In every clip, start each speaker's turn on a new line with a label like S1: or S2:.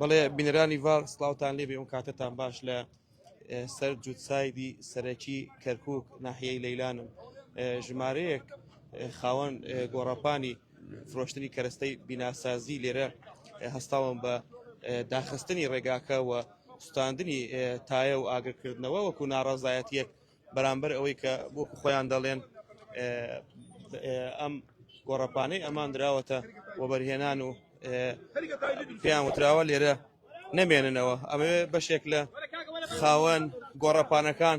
S1: بەڵێ بینەرانی ڤار سلااوان لێبێ ئەو کاتتان باش لە سەر جووتسایدی سەرەکی کەرکک ناحیەی لەیلانم ژمارەیەک خاوەن گۆڕاپانی فرۆشتنی کەرەستەی بیناسازی لێرە هەستاوم بە داخستنی ڕێگاکە و سوستاندنی تایە و ئاگرکردنەوە وەکو ناڕازایەتیەک بەرامبەر ئەوەی کە بۆ خۆیان دەڵێن ئەم گۆڕەپانەی ئەمان دراوەتە وەبەرهێنان و پێیان وتراوە لێرە نەمێننەوە ئەمەوێ بەشێک لە خاوەن گۆڕەپانەکان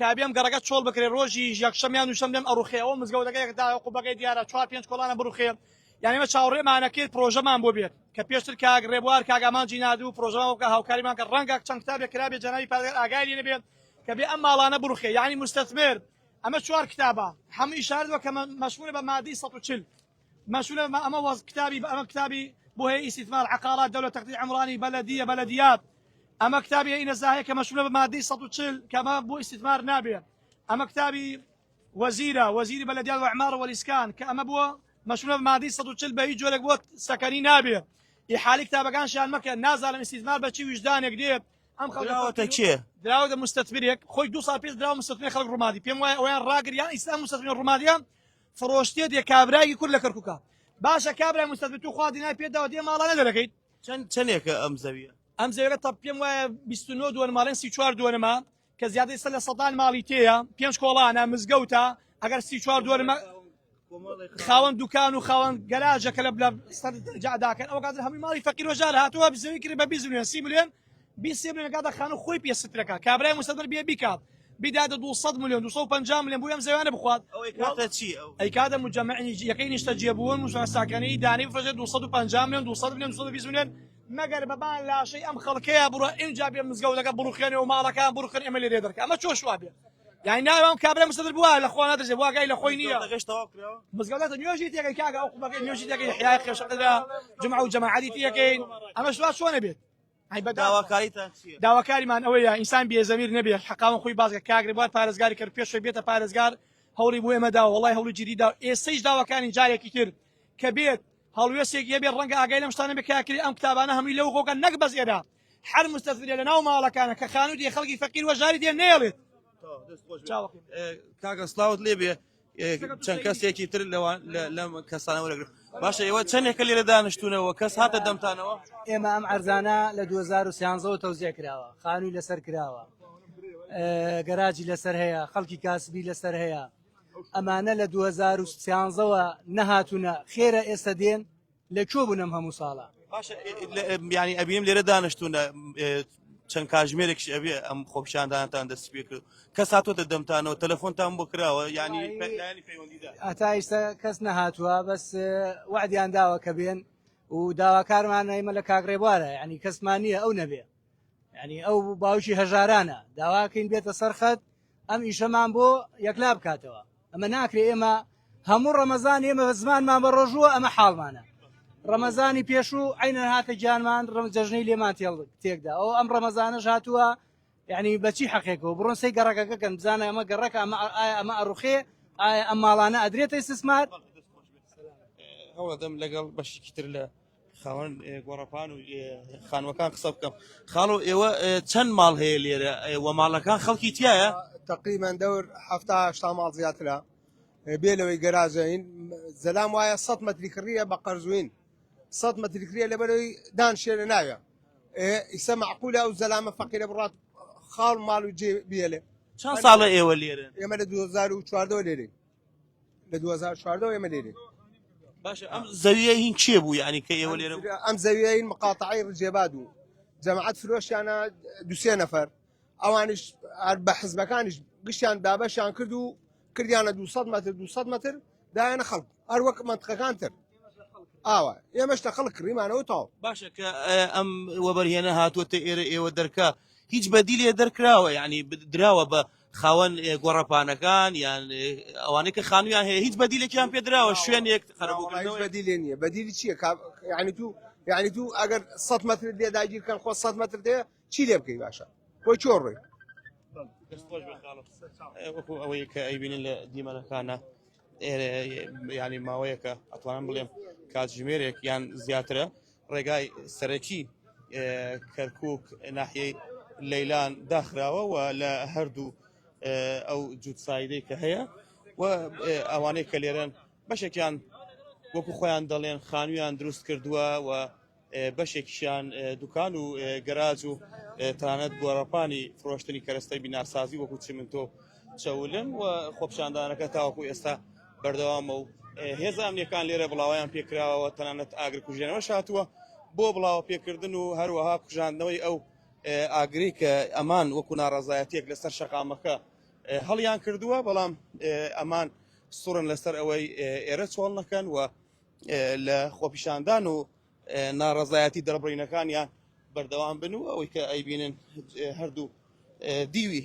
S2: کابێم گەڕەکە چۆڵ بکرێ ڕۆژی یەکشەم یان دووشەم لێم ئەڕوخێ ئەوە مزگەوتەکەیەک داوە قوبەکەی دیارە چوار پێنج کۆڵانە بڕوخێ یعنی مە چاوڕێمانە کرد پرۆژەمان بۆ بێت کە پێشتر کاک ڕێبوار کاک ئامانجی نادو پرۆژەمان بکە هاوکاریمان کە ڕەنگە چەند کتابێک کرابێ جەنابی پادگەر ئاگای لێ نەبێت کە بێ ئەم ماڵانە بڕوخێ یعنی مستثمر ئەمە چوار کتابە هەموو ئیشارەت وە کە مەشمولە بە مادەی 140 مەسولە مە ئەمە وەز کتابی بە ئەمە کتابی بۆ هەیە ئیسیتمار عقارات دەولە تەقدی عمرانی بەلەدیە بەلەدیات ئەمە کتابی ئینە زاهەیە کە مەسولە بە مادەی 140 کەمە بۆ ئیسیتمار نابێت ئەمە کتابی وەزیرە وەزیری بەلەدیات وعمار وەلیسکان کە ئەمە بۆ مەسولە بە مادەی 140 بە هیچ جۆرێک بۆ سەکەنی نابێت ئی حالی کتابەکان شان مەکە نازانم ئیسیتمار بە چی ویژدانێک دێت ئەم خەڵکەوەتە کێ
S1: دراوەتە مستەتبرێک
S2: خۆی دو سال پێش دراوە مستەتبێ خەڵک ڕوومادی پێم وایە ئەویان ڕاگریان ئیسلام مستەتبێ ڕوومادیان فرۆشتیە دێ کابرایەکی کورد لە کەرکوکە باشە کابرای مستەزبی تو خوا دینای پێ داوە دێ ماڵانە دەرەکەیت چەند چەندێکە ئەم
S1: زەویە ئەم زەویەکە تەپ پێم
S2: وایە 29 دووەن ماڵێن سی چوار دووەنمە کە زیادەی سە لە سەدان ماڵی تێیە پێنج کۆڵانە مزگەوتە ئەگەر سی چوار دووەنمە خاوەن دوکان و خاوەن گەراجەکە لە بلە سەر جاداکەن ئەو کاتر هەمووی ماڵی فەقیرۆژار هاتووە بزەوی کرد بە بیزنێن سی ملیۆن بیسێ بلێن کاتە خانو خۆی پێ سترەکە کابرای مستەدر بێ بیکات بداتە 200 میلیۆن 250 میلیۆن بۆی ئەم زەویانە بخوات ئەی
S1: کاتە مجمعنی
S2: یەکەی نیشتە جێبوون موساساکەنی دانی بفرێت 250 میلیۆن 200 میلیۆن 220 میلیۆن مەگەر بەبان لاشەی ئەم خەڵکەیە بڕە ئینجا بێ مزگەوتەکە بڕوخێنێ و ماڵەکان بڕخن ئەمە لێ دەرکە ئەمە چۆش وابێ یعنی ناوام کابرا مستەدر بووە لە خۆ نادرێ واگای لە خۆی نییە مزگەوتە نوێژی تێگەی کاگە ئەو قوبەکەی نوێژی تێگەی حیای خێشەکەدا جمع و جەماعەتی تێکەین ئەمە شوا چۆنە بێت داواکاریتان چیە؟ داواکاریمان ئەوەیە ئینسان بێ زەمیر نەبێت حەقاوەن خۆی باسکە کاک رێبوار پارێزگاری کەرکوک پێش خۆی بێتە پارێزگار هەوڵی بۆ ئێمە داوە وەڵای هەوڵی جیدی داوە ئێستەیش داواکارین جارێکی تر کە بێت هەڵوێستێک هەبێت ڕەنگە ئاگای لەم شتانە بێت کە کاکری ئەم قوتابانە هەمووی لەو غۆکە نەک بەس ئێرە هەر مستەسبرێ لە ناو ماڵەکانە کە خانوو دێ خەڵکی فەقیر وەژاری دێ نێڵێت
S1: کاکە سلااوت لێبێ چەند کەسێکی تر لەوان لەم کەسانە وەرەگرن باشە ئێوە چەندێکە لێرە دانیشتونەوە کەس هاتە دەمتانەوە ئێمە ئەم ئەرزانە
S3: لە 2013ەوە تەوزیع کراوە خانووی لەسەر کراوە گەراجی لەسەر هەیە خەڵکی کاسبی لەسەر هەیە ئەمانە لە 2013ەوە نەهاتوونە خێرە ئێستا دێن لە کوێ بوون ئەم هەموو ساڵە؟ باشە
S1: یانی ئەبینم لێرە دانیشتونە چەند کاژمێرێکش ئەبێ ئەم خۆپیشاندانتان دەست پێ کرد کەس هاتوۆتە دەمتانەوە تەلەفۆنتان بۆ کراوە ینی ئەتا ئیستا
S3: کەس نەهاتووە بەس وعدیان داوە کە بێن و داواکارمانەیمە لە کاگڕێبوارە ینی کەسمان نییە ئەو نەبێ یعنی ئەو باوکی هەژارانە داواکەین بێتە سەرخەت ئەم ئیشەمان بۆ یەکلا بکاتەوە ئەمە ناکرێ ئێمە هەموو ڕەمەزان ئێمە زمانمان بە ڕۆژووە ئەمە حاڵمانە ڕەمەزانی پێشوو عینە هاتە گیانمان ڕم جەژنەی لێمان تێڵ تێکدا ئەو ئەم ڕەمەزانە هاتووە یعنی بەچی حەقێکەوە بڕۆن سی گەڕەکەکە کەم بزانە ئەمە گەڕەکە ئەمە ئەمە ئەڕوخێ ئایا ئەم ماڵانە ئەدرێتە سسمار هەوڵدەم
S1: لەگەڵ بەشیکی تر لە خاوەن گۆڕەپان و خانوەکان قسە بکەم خاڵۆ ئێوە چەند ماڵ هەیە لێرە و ماڵەکان خەڵکی تایە تقریبان دەور
S4: هەفتاهشتا ماڵ زیاترە بێ لەوەی گەراجین زەلام وایە سە مەتری کڕە بە قەرزوین سە مەتری کرە لە بەرەوەی دان شێرە ناوێ ئیسە معقولە و زەلامە فەقیرە بڕات خاڵ ماڵ و جێ بێلێ چەند
S1: ساڵە ئێوە لێرە ئێمە لە
S4: 2014 لێرەین لە 2014 و ئێمە لێرێ باشە ئەم
S1: زەویە هین چێ بوو یعنی کە ئێوە لێرە بوو؟ ئەم زەویین مقاتعی
S4: ڕجێباد و جەماعەت فرۆشیانە دوسێ نەفەر ئەوانش هەر بە حزبەکانیش گشتیان دابەشیان کرد و کردیانە 200 متر 200 متر دایانە خەڵک هەر وەک منطقەکان تر ئاوا ئێمەش تە خەڵک کڕیمانەوە تاو باشە کە ئە،
S1: ئەم وەبەرهێنە هاتووەتە ئێرە ئێوە دەرکە هیچ بەدیلێ دەرکراوە یعنی دراوە بە خاوەن گۆڕەپانەکان یان ئەوانەی کە خانوویان هەیە هیچ بەدیلێکیان پێدراوە شوێنێک قەرەبووکردنەوە بەدی لێ نییە بەدیلی
S4: چییە کا یعنی تو یعنی تو ئەگەر سە مەترت لێ داگیرکەن خۆ سە مەتر دێ چی لێ بکەی باشە بۆ چۆ ڕۆی
S1: وەکو ئەوەی کە ئەیبینن لە دیمەنەکانە ئێرە ینی ماوەیەکە ئەتوانم بڵێم کاتژمێرێک یان زیاترە ڕێگای سەرەکی کەرکوک ناحیەی لەیلان داخراوە و لە هەردوو ئەو جووت سایدەی کە هەیە و ئەوانەی کە لێرەن بەشێکیان وەکو خۆیان دەڵێن خانویان دروست کردووە و بەشێکیان دوکان و گەراج و تانەت گۆڕەپانی فرۆشتنی کەرەستەی بیناسازی وەکو چمنتۆ چەولم و خۆپشاندانەکە تاوەکو ئێستا بەردەوامە و هێزە ئەمنیەکان لێرە بڵاویان پێکراوە تەنانەت ئاگرکوژێنەوە شاتووە بۆ بڵاوە پێکردن و هەروەها کوژاندنەوەی ئەو ئاگری کە ئەمان وەکو ناڕازایەتێک لەسەر شەقامەکە هەڵیان کردووە بەڵام ئەمان سوڕن لەسەر ئەوەی ئێرە چۆڵ نەکەن و لە خۆپیشاندان و ناڕزایەتی دەربڕینەکانیان بەردەوام بن و ئەوەی کە ئەیبینن هەردوو دیوی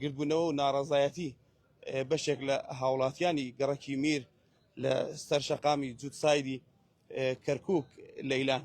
S1: گردبوونەوە و ناڕەزایەتی بەشێک لە هاوڵاتیانی گەڕەکی میر لە سەر شەقامی جووتسایدی کەرکووک لەیلان.